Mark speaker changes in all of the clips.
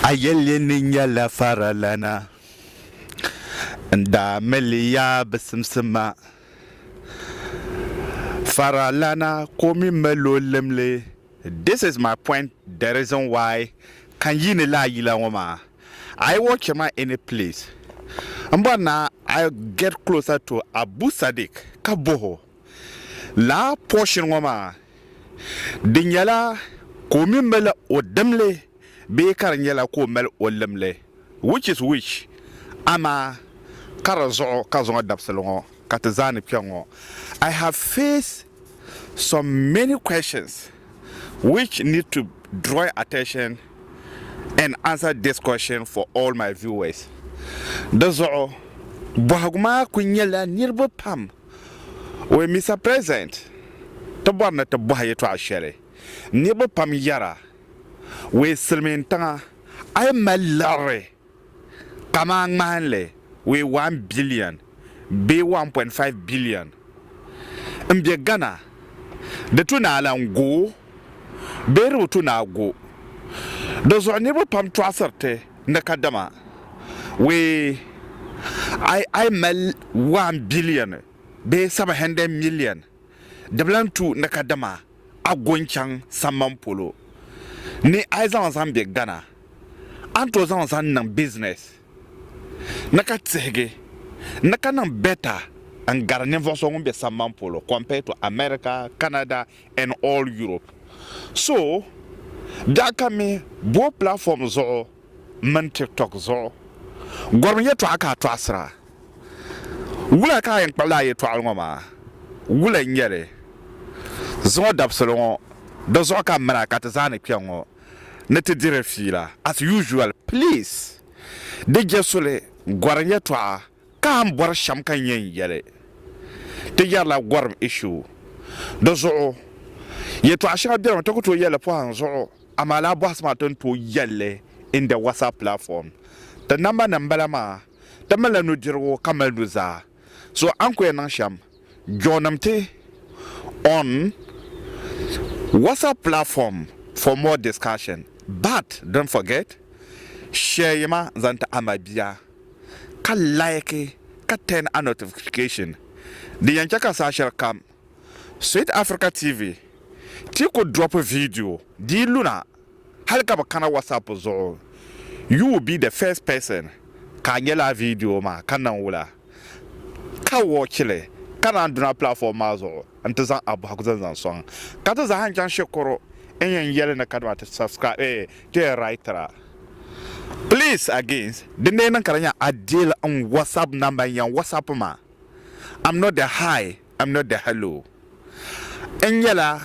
Speaker 1: A yɛli ni nyɛla faralana n daa mili ya bi simsima. Faralana ka o mi mali o limli. This is my point the reason why ka n yiini laa yila ŋɔ maa. A yi watch ma any place, m bɔri ni a get closer to Abu Sadiq ka bohi o. Laa portion ŋɔ maa, di nyɛla ka o mi mali o dimli bee ka di nyɛla ka o mali o limli, which is which? Amaa ka di zuɣu ka zuŋɔ dabisili ŋɔ ka ti zaa ni kpɛŋ ŋɔ. I have faced some many questions which need to drawing attention and answer this question for all my viewers. Di zuɣu bɔhigu maa kuli nyɛla niriba pam Wee Mister President, ti bɔri ni ti bɔhi yɛtɔɣa shɛli niriba pam yɛra, wee silimiin tiŋa a yi mali liɣiri kamaa ŋmahinli wee one billion bee one point five billion n bɛ Ghana di tu ni a lan go bee di bi tu ni a go di zuɣu niriba pam tɔɣisiri ti. ni kadama wee ay ay mali one billion bee seven hundred million dibila n tu ni kadama a go n chaŋ samban polo ni ay zaŋ zaŋ be Ghana a ni to zaŋ zaŋ niŋ business ni ka tihigi ni ka niŋ better n gari ninvuɣu so ŋun be samban polo compared to America, Canada, and all Europe so daa ka mi boo platform zuɣu mini tiktok zuɣu gɔrim yɛtɔɣa ka a tɔɣisira wula ka a yɛn kpuɣila a yɛtɔɣili ŋɔ maa wula n-nyɛ li zuŋɔ dabisili ŋɔ di zuɣu ka m mini a ka ti zaa ni kpe ŋɔ ni ti diri fiila as usual please di je suli gɔrim yɛtɔɣa Ka n bɔri shɛm ka n yɛn yɛli, Ti yɛrila gɔrim ishu. Di zuɣu yɛtɔɣ shɛŋa beni mi ti ku tooi yɛli li pɔhim zuɣu, amaa lala bɔhisi maa ti ni tooi yɛli li in the WhatsApp platform. Ti namba ni m-bala maa, ti malila nudirigu ka mali nuzaa. So a ni ku yɛn niŋ shɛm, joinim ti on WhatsApp platform for more discussion. But don't forget, share ma zaŋ ti a mabia. ka like ka turn a notification di yɛn chɛ ka saha shɛli kam Sweet Africa TV ti ku drop video dii luna hali ka bi kana WhatsApp zuɣu you will be the first person ka a nya laa video maa ka niŋ wula ka watch li ka naan duna platform maa zuɣu. n-ti zaŋ a bɔhigu zani zaŋ sɔŋ ka ti zaa n-chaŋ shikuru n yɛn yɛli ni kadama ti subscribe eeh ti writera please again din dee niŋ ka di nya a deal n WhatsApp number n yɛn WhatsApp ma am not the hi am not the hello n yɛla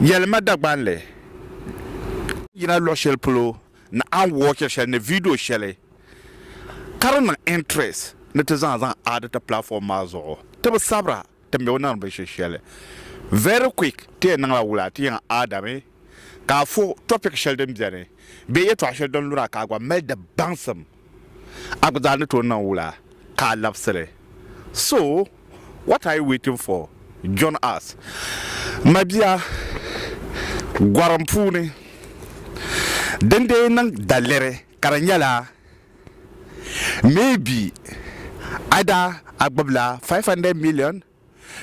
Speaker 1: yɛli ma Dagbanli n yina luɣi shɛli polo ni a watchiri shɛli ni video shɛli ka di niŋ interest ni ti zaŋ a zaŋ add ti platform maa zuɣu ti bi sabira. Ti mi o niŋdi binshiri shɛli very quick ti yɛn niŋla wula ti yiŋa Adami ka a fo topic shɛli din beni bee yɛltɔɣa shɛli din luna ka a gba mali di baŋsim a gba zaa ni tooi niŋ wula ka a labisili so what are you waiting for join us mabia gɔrim puuni dindee niŋ daliri. Ka di nyɛla maybe either a gbubila 500 million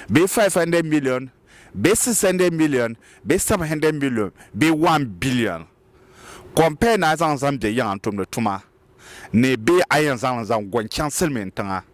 Speaker 1: bee 500 million bee 600 million bee 700 million bee 1 billion compare ni a zaŋ zaŋ be yiŋa n-tumdi tuma ni bee a yɛn zaŋ li zaŋ go n-chaŋ silimiintiŋa.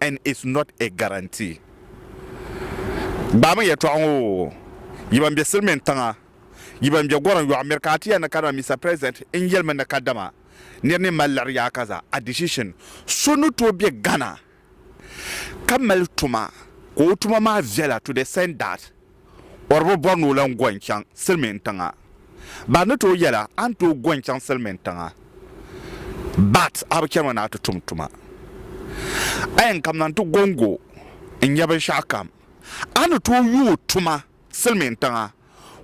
Speaker 1: and it's not a guarantee. Gbaami yɛltɔɣa ŋɔ oo, yi ban be silimiin tiŋa, yi ban be gɔrim yɔɣu miri ka a ti yɛn ni kadama Mister President n yɛli mi ni kadama niri ni mali liɣiri yaa ka za a decision. So ni tooi be Ghana ka mali tuma ka o tuma maa viɛla to the cent that. O di bi bɔri ni o lan go n-chaŋ silimiin tiŋa. Ba ni tooi yɛl a, a ni tooi go n-chaŋ silimiin tiŋa, but a bi chanimi ni a ti tum tuma. A yɛn kamina nti go n-go n-nya binshɛɣu kam, a ni tooi yooi tuma silimiin tiŋa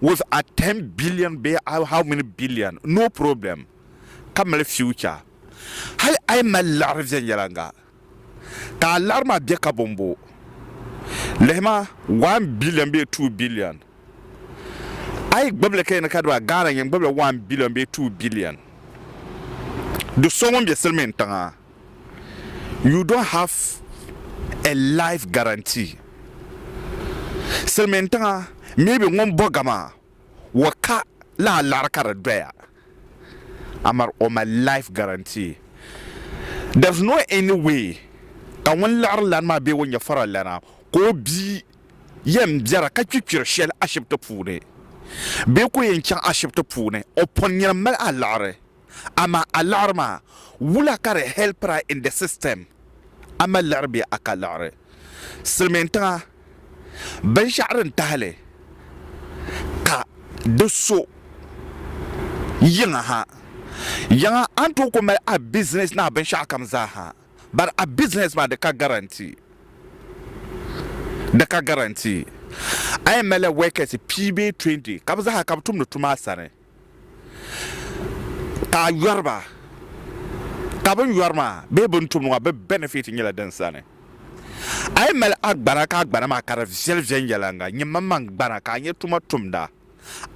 Speaker 1: with a ten billion bee a how many billion, no problem, ka mali future. Hali a yi mali liɣiri viɛnyɛliŋga. Ka a laɣiri maa bɛ ka bɔmbɔ? Lihima, one billion bee two billion. A yi gbubi li ka yi ni kadi ba Ghana yin gbubila one billion bee two billion. Do so ŋun bɛ silimiin tiŋa, you don't have a life guarantee. Silimiin tiŋa, maybe ŋun bɔga maa. Wa ka lahi laɣiri ka di doya amar o mali life guarantee. There's no any way ka ŋun laɣiri lana maa bee o nyɛfara lana ka o bia yɛn biɛra ka kpi kpiri shɛli ashibiti puuni bee ka o yɛn chaŋ ashibiti puuni o pɔnnina mali alaɣiri. amaa a liɣiri maa, wula ka di helpir a in the system? A mali liɣiri bee a ka liɣiri? Silimiintiŋa, binshɛɣu din tahili ka di so yiŋa ha, yiŋa a ni tooi ku mali a business ni a binshɛɣukam zaa ha, but a business maa di ka guarantee, di ka guarantee. A yɛn malila workers pia bee twenty ka bɛ zaa ha ka bɛ tumdi tuma a sani. ka a yɔri ba, ka bɛ ni yɔri maa bee bɛ ni tumdi maa bɛ benefit nyɛla din sani. A yi mali a gbana ka a gbana maa ka di viɛli viɛnyɛliŋga, nyimmaŋmaŋ gbana ka a nyɛ tuma tumda,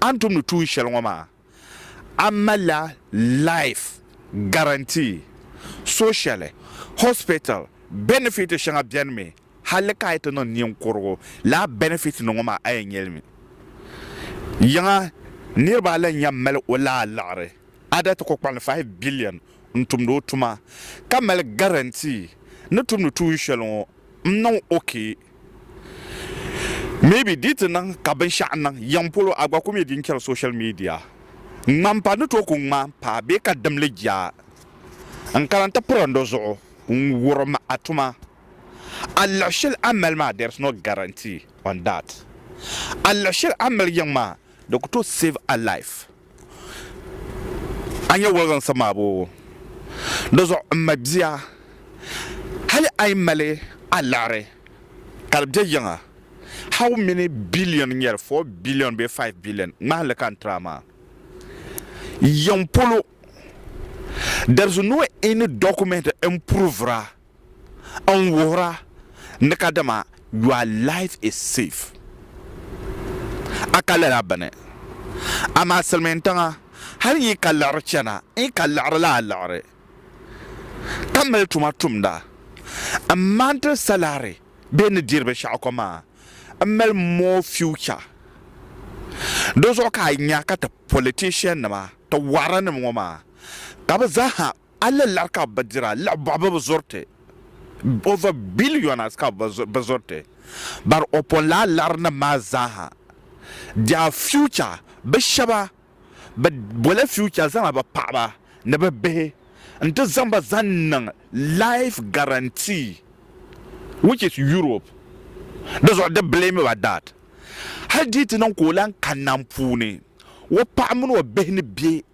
Speaker 1: a ni tumdi tuun shɛli ŋɔ maa, a malila life guarantee, social, hospital benefit shɛŋa benimi Halli ka a yi ti niŋ ninkurugu laa benefit ni ŋɔ maa a yɛn nyɛli mi. Yiŋa niriba a lan yɛn mali o laa liɣiri ada ti kɔkpalli five billion n-tumdi o tuma ka mali guarantee ni tumdi tuun shɛli ŋɔ m-niŋ okay. Maybe di yi ti niŋ ka binshɛɣu niŋ yiŋ polo a gba ku mi di n-chɛri social media. Ŋmampa ni tooi ku ŋma m-pa bee ka dimli jaa n-kana n-ti piri n do zuɣu n-wurim a tuma. A liɣi shɛli a mali maa there is no guarantee on that. A liɣi shɛli a mali yiŋ maa di ku tooi save a life. A nya woliginsi maa boobu? Di zuɣu m ma bia hali a yi mali a liɣiri ka di be yiŋa how many billion n nyɛli four billion bee five billion ŋmahinli ka n tiri a maa yiŋ polo there is no any document n provera n wuhira ni ka dama your life is safe a ka lala bini amaa silimiin tiŋa hali yi ka liɣiri chana n yi ka liɣiri laa liɣiri ka mali tuma tumda n maanti salary bee ni diri binshɛɣu ko maa n mali more future di zuɣu ka a nya ka ti politician nima ti waranim ŋɔ maa ka bɛ zaa ha A li lari ka bɛ dira, liɣi bɔɣu bɛ bi zɔri ti, over billions ka bɛ zɔri ti, but o pun lahi lari nim maa zaaha, their future, bɛ shɛba bɛ boli future zaŋla bɛ paɣaba ni bɛ bihi n ti zaŋ ba zaŋ niŋ life guarantee which is Europe, di zuɣu di blame ba that hali di yi ti niŋ ka o lahi kanna n puuni o paɣa mini o bihi ni bɛ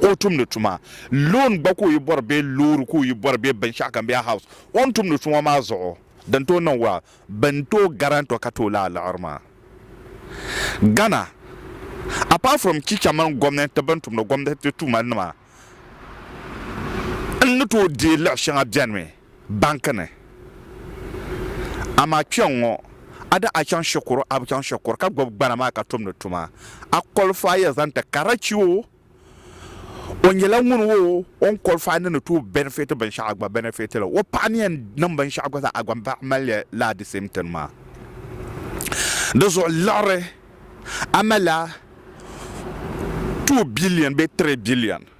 Speaker 1: ka o tumdi tuma, loan gba ka o yi bɔri bee loori ka o yi bɔri bee binshɛɣu kam bee a house, o ni tumdi tuma maa zuɣu din tooi niŋ well, bɛ ni tooi guarant o ka tooi lahi liɣiri maa. Ghana, apart from chicha mini gomnanti bɛ ni tumdi gomnanti tuma nima n ni tooi deei liɣi shɛŋa bɛnimi. banki ni. Amaa kpiɔŋŋɔ, a di a chaŋ shikuru a bi chaŋ shikuru ka gbubi gbana maa ka tumdi tuma. A kɔlifaai ya zaŋ ti Karachi oo, o nyɛla ŋuni oo, o ni kɔlifaai ni ni tooi bɛnifiti binshɛɣu a gba bɛnifiti li. O paɣa ni yɛn niŋ binshɛɣu gba zaa a gba paɣa mali li laa di same thing maa. Di zuɣu liɣiri, a malila two billion bee three billion.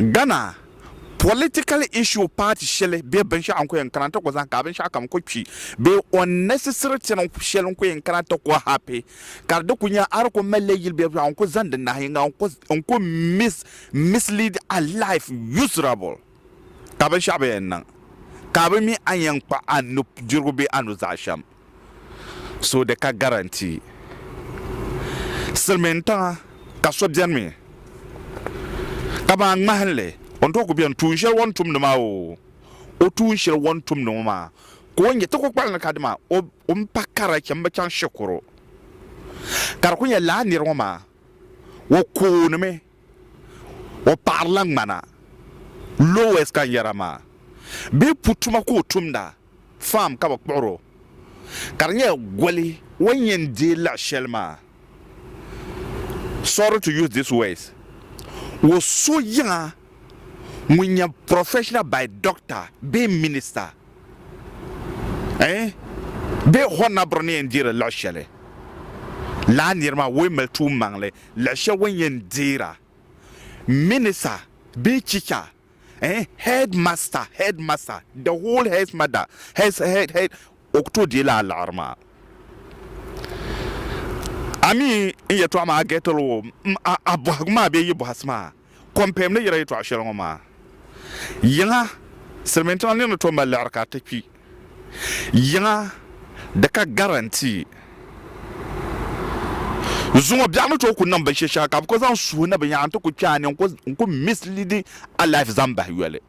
Speaker 1: Ghana political issue party shɛli bɛ binshɛɣu n-ku yɛn kana ti ku zahim ka binshɛɣu kam ku kpi bee unnecessary thing shɛli n-ku yɛn kana ti ku happy ka di ku nya a di ku malila yili bɛ binshɛɣu n-ku zaŋdi nahiyiŋga n-ku mislead a life usurable. ka binshɛɣu bɛ yɛn niŋ ka a bi mi a ni yɛn kpa a nudirigu bee a nuzaa shɛm, so di ka garantii. Silimiintiŋa ka so beni mi ka maa ŋmahinli o ni tooi ku beni tuun shɛli o ni tumdi maa oo, o tuun shɛli o ni tumdi ŋɔ maa ka o nya ti ku kpali ni ka dima o o ni pa kara chɛ m-bi chaŋ shikuru ka di ku nyɛ lala nir ŋɔ maa o koonimi. O paɣirila ŋmana, Lois ka n yɛra maa, bee pu tuma ka o tumda, farm ka bɛ kpuɣir o, ka di nyɛla goli o ni yɛn deei laɣ shɛli maa. Sorry to use these words, o so yiŋa ŋun nyɛ professional by doctor bee minister eh bee honabre ni yɛn deeri laɣ shɛli, lala nir maa o yi mali tuummaŋli Lahi shɛb wan yɛn deera minisa bee chicha eh head master head master the whole head mother head head head o ku tooi deei lala liɣiri maa a mi n yɛtɔɣa maa a getili o m a a bɔhigu maa bee yi bɔhisi maa. Kɔmpɛm ni yira yɛtɔɣ shɛli ŋɔ maa, yiŋa silimiintiŋa nir ni tooi mali liɣiri ka ti kpi yiŋa di ka garantii. Zuŋɔ biɛɣu ni tooi ku niŋ binshɛ shɛŋa ka bɛ ku zaŋ suhi ni binyɛra nti ku kpɛ a ni n-ku misleadi a life zaŋ bahi yoli.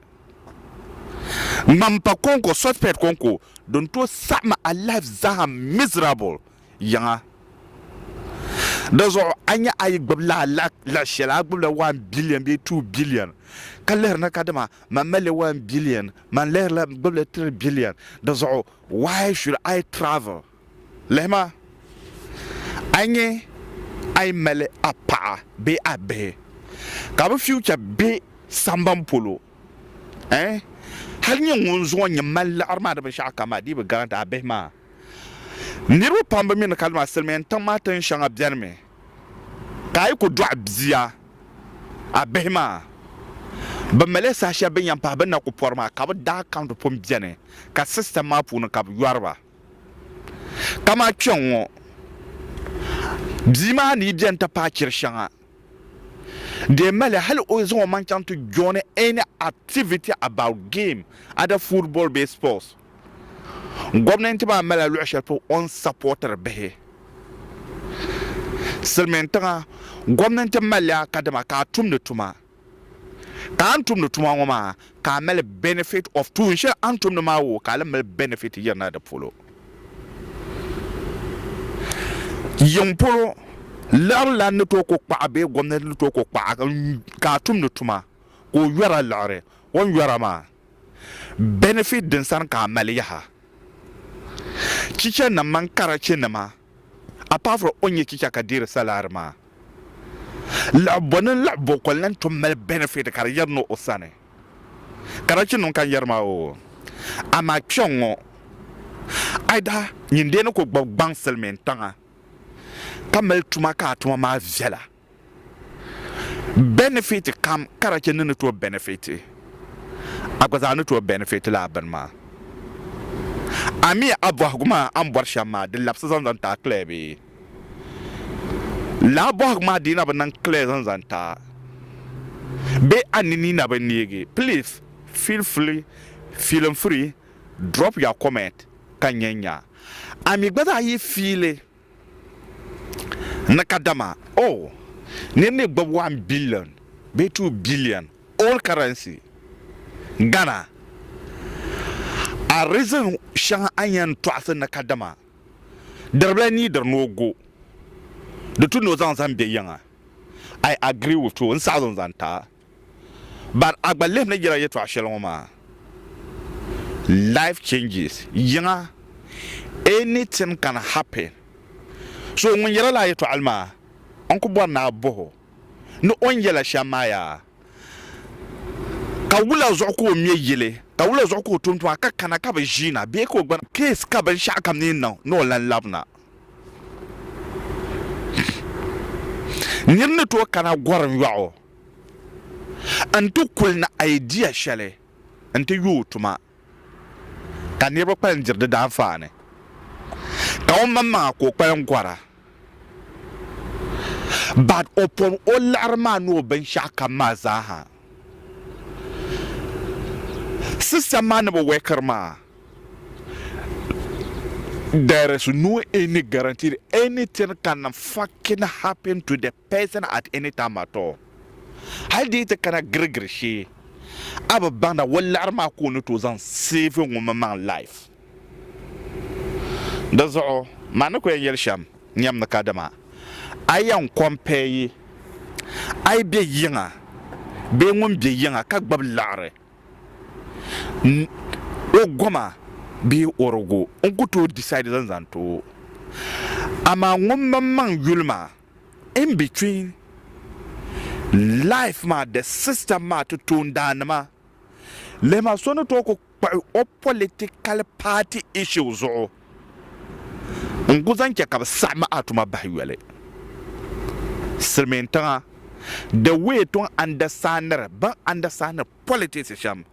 Speaker 1: Ŋmampa kɔŋko, suspect kɔŋko din tooi saɣim a life zaa miserable. yiŋa. Dizuɣu a nya a yi gbubi laa la shɛli a gbubila one billion bee two billion ka lihiri ni ka dama man malila one billion man lihirila gbubila three billion dizuɣu why should I travel lihima a nya a yi mali a paɣa bee a bihi ka bɛ future be samban polo eh hali nya ŋun zuŋɔ nyɛ man liɣiri maa di binshɛɣu kam maa dii bi guarantee a bihi maa Niriba pam bi mi ni ka lima silimiin tiŋ maa tin shɛŋa beni mi ka a yi ku dɔɣi bia a bihi maa bi mali saha shɛli bini yɛn pahi bini na ku pɔri maa ka bi daa kaunti pun beni ka system maa puuni ka bi yɔri ba kaman kpɛŋŋɔ bia maa ni yi beni ti paai chiri shɛŋa dee mali hali o zaŋ o maŋ chaŋ ti joini any activity about game either football bee sports. Gomnanti maa malila luɣi shɛli polo o ni sapotiri bihi. Silimiin tiŋa gomnanti malila kadama ka a tumdi tuma. Ka a ni tumdi tuma ŋɔ maa ka a mali benefit of tuun shɛli a ni tumdi maa woo ka a lan mali benefit yirina di polo. Yiŋ polo, liɣiri lan ni tooi ku kpaɣa bee gomnanti ni tooi ku kpaɣa ka a tumdi tuma ka o yɔra liɣiri o ni yɔra maa. Benefit din sani ka a mali yaha, Chicha nim mini karachi nima apart from o nyɛ chicha ka deeri salary maa, laɣibo ni laɣibo ka o lan tom mali benefit ka di yɛri ni o sani. Karachi nim ka n yɛri maa oo. Amaa kpɛŋ ŋɔ a daa nyin deeni ku gbubi gbaŋ silimiin tiŋa ka mali tuma ka a tuma maa viɛla. Benefit kam ka da chɛ ni ni tooi benefit, a gba zaa ni tooi benefit lala bini maa. Amiya a bɔhigu maa a ni bɔri shɛm maa, di labisi zaŋ zaŋ ti a clear bee? Lala bɔhigu maa dii na bi niŋ clear zaŋ zaŋ ti a bee a ninii na bi neegi? Please feel free, feeling free, drop your comment ka n nya n nya a mi gba zaa yi fiili. ni kadama o nir ni gbib one billion bee two billion old currency Ghana. A reason shɛŋa a ni yɛn tɔɣisi ni kadama diribila neediri ni o go di tu ni o zaŋ zaŋ be yiŋa, I agree with you, n saɣizi n-zaŋ ti a. Ban a gba lihi ni yira yɛtɔɣ shɛli ŋɔ maa, life changes, yiŋa, anything can happen. So ŋun yɛla lala yɛtɔɣili maa, n ku bɔri ni a bɔh o ni o ni yɛla shɛm maa yaa, ka wula zuɣu ka o ŋme yili, ka wula zuɣu ka o tum tuma ka kana ka bi ʒiina bee ka o gbana? Case ka binshɛɣu kam ni niŋ ni o lan labina. Nir ni tooi kana gɔrim yɔɣu n ti kuli ni idea shɛli n ti yooi tuma ka niriba kpalim diri di daanfaani ka o maŋmaŋa ka o kpalim gɔra but o pɔbi o liɣiri maa ni o binshɛɣu kam maa zaa ha system maa ni bi workiri maa there is no any guaranteed anything can fucking happen to the person at any time at all hali di yi ti kana girigiri shee a bi baŋda o liɣiri maa ka o ni tooi zaŋ save ŋumimaŋ life. Di zuɣu man ni ku yɛn yɛli shɛm nyam ni kadama a yɛn compare yi a yi be yiŋa bee ŋun be yiŋa ka gbubi liɣiri n o goma bee ɔrigu n ku tooi decide zaŋ zaŋ ti o. Amaa ŋumimaŋ yuli maa in between life maa the system maa ti toondaannima lihima so ni tooi ku kpuɣi o political party issue zuɣu n ku zaŋ chɛ ka bɛ saɣim a tuma bahi yoli silimiintiŋa the way ti ni understandiri bɛn understandiri politics shɛm.